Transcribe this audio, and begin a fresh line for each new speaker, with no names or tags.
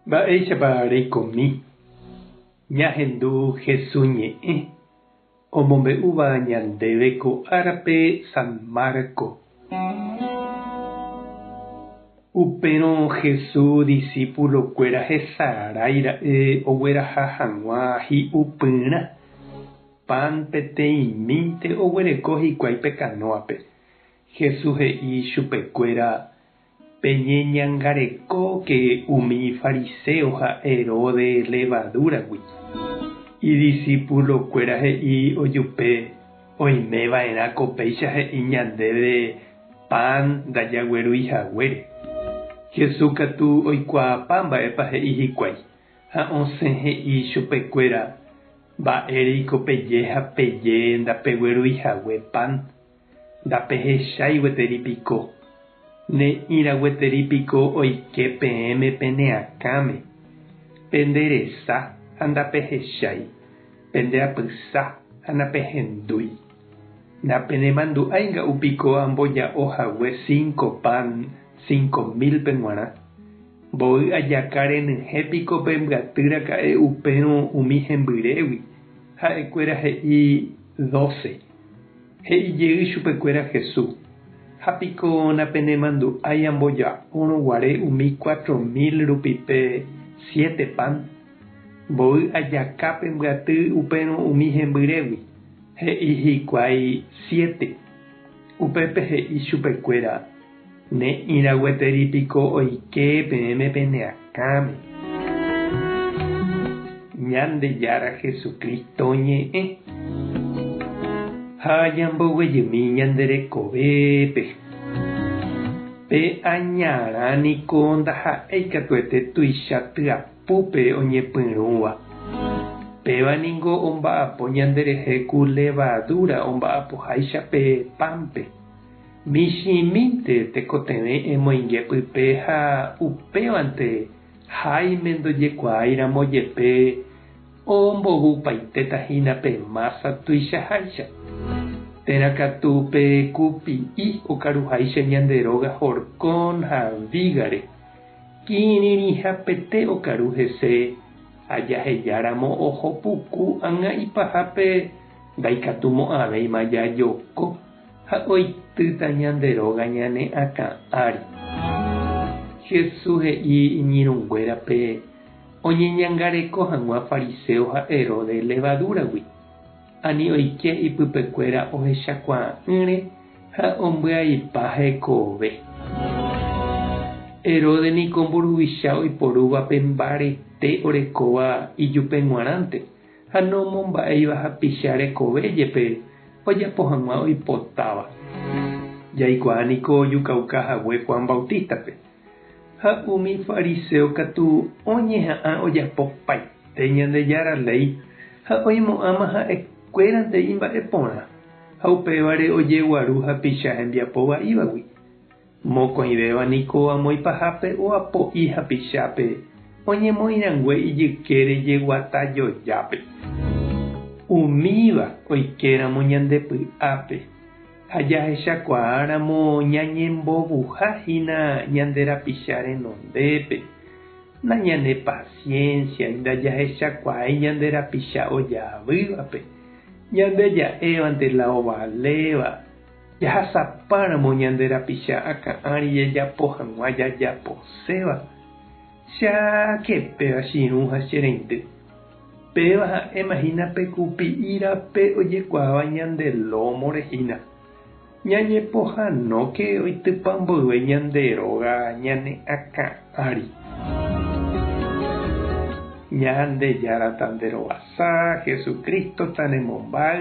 Mba'éichapa reikomi ñahendu Jesús ñe'ẽ omombe'úva ñandéve ko árape San Marco? Upérõ Jesús disípulokuéra hesarái ra'e ogueraha hag̃ua hi'upyrã pan peteĩmínte oguereko hikuái pe kanóape. Jesús he'i chupekuéra, Peñeñangarekóke umi fariséo ha Heróde levadúragui. Idisipulokuéra he'i ojupe, Oimeva'erã ko péicha he'i ñandéve pan ndajaguerúi haguére. Jesús katu oikuaapa mba'épa he'i hikuái, ha osẽ he'i chupekuéra, Mba'éreiko peje ha peje ndapeguerúi hague pan? Ndapehechái gueteri piko? Ne'ĩra gueteri piko oike peẽme pene akãme? Pende resa ha ndapehechái, pende apysa ha napehendúi. Ndapenemandu'ái nga'u piko amboja'o hague cinco pan cinco mil-pe g̃uarã? Mboy ajaka renyhẽ piko pe mbyaty raka'e upérõ umi hembyrégui? Ha'ekuéra he'i doce. He'i jey chupekuéra Jesús, Ha piko napenemandu'ái amboja'órõ guare umi cuatro mil rupi pe siete pan? Mboy ajaka pe mbyaty upérõ umi hembyrégui, he'i hikuái siete. Upépe he'i chupekuéra, Ne'ĩra gueteri piko oike peẽme pende akãme. Ñandejára Jesucristo ñe'ẽ. Ha ñamboguejymi ñande rekovépe. Pe añarã niko ndaha'éi katuete tuicha tyapúpe oñepyrũva. Péva ningo omba'apo ñande rehe ku levadura omba'apoháicha pe pánpe. Michĩmínte tekotevẽ emoinge pype ha upévante Jaime ndojekuaáiramo jepe ombovupaitéta hína pe mása tuichaháicha. Térã katu pe kupi'i okaruháicha ñande róga horcón ha vígare, kirirĩhapete okaru hese ha jahejáramo oho puku ág̃a ipahápe ndaikatumo'ãvéima jajoko. Ha oitýta ñande róga ñane akã ári. Jesús he'i iñirũnguérape oñeñangareko hag̃ua fariséo ha Herodes levadúragui. Ani oike ipypekuéra ohechakuaa'ỹre ha ombyaipa hekove. Herodes niko mburuvicha oiporúva pe mbarete orekóva ijupe g̃uarãnte. ha nomomba'éiva hapicha rekove jepe ojapo hag̃ua oipotáva. Jaikuaa niko ojukauka hague Juan Bautista-pe. Ha umi fariseo katu oñeha'ã ojapo paite Ñandejára léi ha oimo'ãma ha'e kuérante imba'e porã, ha upévare ojeguaru hapicha hembiapo va'ívagui. Mokõivéva niko amoĩ pahápe oapo'i hapichápe oñemoĩ rangue ijyke rejeguata jojápe. Umíva oikéramo ñande py'ápe ha jahechakuaáramo ñañembovuha hína ñande rapicha renondépe, nañanepasiénsiai ndajahechakuaái ñande rapicha ojaavývape, ñande ja'évante la ovaléva. Jahasapáramo ñande rapicha akã ári jajapo hag̃ua jajaposéva, che aake péva chirũ ha che reindy. Péva ha'éma hína pe kupi'i rape ojekuaáva ñande lómore hína. Ñañepohãnóke oitypa mboyve ñande róga ñane akã ári. Ñandejára tanderovasa, Jesucristo tanemombáy.